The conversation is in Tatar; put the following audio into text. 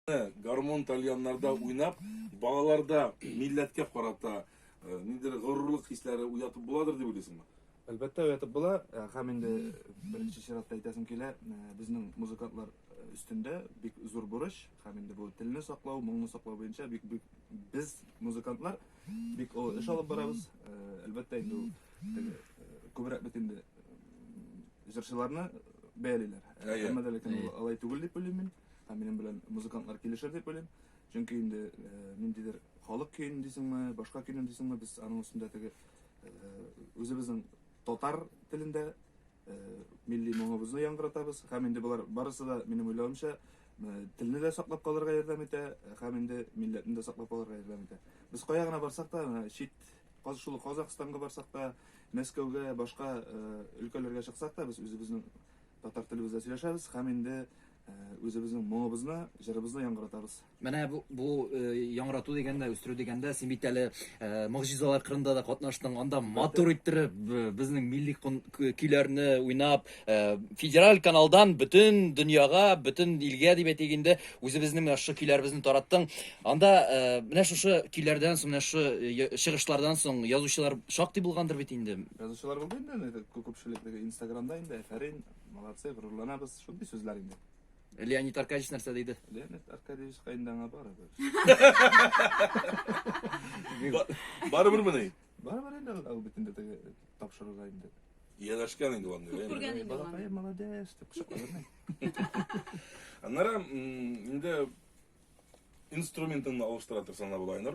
Гармун тальяннарда уйнап, балаларда милләткә карата э, ниндидер горурлык хисләре уятып буладыр дип уйлыйсыңмы? Әлбәттә, уятып була. Э, Һәм инде беренче чиратта әйтәсем килә, э, безнең музыкантлар э, өстендә бик зур бурыч, һәм инде бу телне саклау, моңны саклау буенча бик бик без музыкантлар бик олы эш алып барабыз. Э, Әлбәттә, инде ул теге, э, күбрәк бит инде э, җырчыларны бәялиләр. Әйе. Әмма дә ләкин ул алай түгел дип уйлыйм мин. Һәм минем белән музыкантлар килешер дип уйлыйм. Чөнки инде ниндидер халык көен дисеңме, башка көен дисеңме, без аның өстендә теге үзебезнең татар телендә милли моңыбызны яңгыратабыз. Һәм инде болар барысы да минем уйлавымча телне дә саклап калырга ярдәм итә, һәм инде милләтне дә саклап калырга ярдәм итә. Без кая гына барсак та, чит шул Казахстанга барсак та, Мәскәүгә, башка өлкәләргә чыксак та, без үзебезнең Татар телебездә сөйләшәбез һәм инде үзебезнең моңыбызны, җырыбызны яңгыратабыз. Менә бу, бу яңгырату дигәндә, үстерү дигәндә, син бит әле могҗизалар кырында да катнаштың, анда матур иттереп безнең милли көйләрне уйнап, федераль каналдан бөтен дөньяга, бөтен илгә дип әйтик инде, үзебезнең менә шушы көйләребезне тараттың. Анда менә шушы көйләрдән соң, менә шушы чыгышлардан соң язучылар шактый булгандыр бит инде. Язучылар булды инде аны итеп күпчелек теге инстаграмда инде әфәрин, молодцы, горурланабыз, шундый сүзләр инде. Леонид Аркадьевич нәрсә диде? Леонид Аркадьевичка инде аңа барыбер. Барыбер мени. Барыбер инде ул бит инде теге тапшыруга инде. Ияләшкән инде ул. Күп күргән инде ул. Балакай молодец дип кочакларны. Аннары инде инструментыңны алыштыра торсаң да була инде.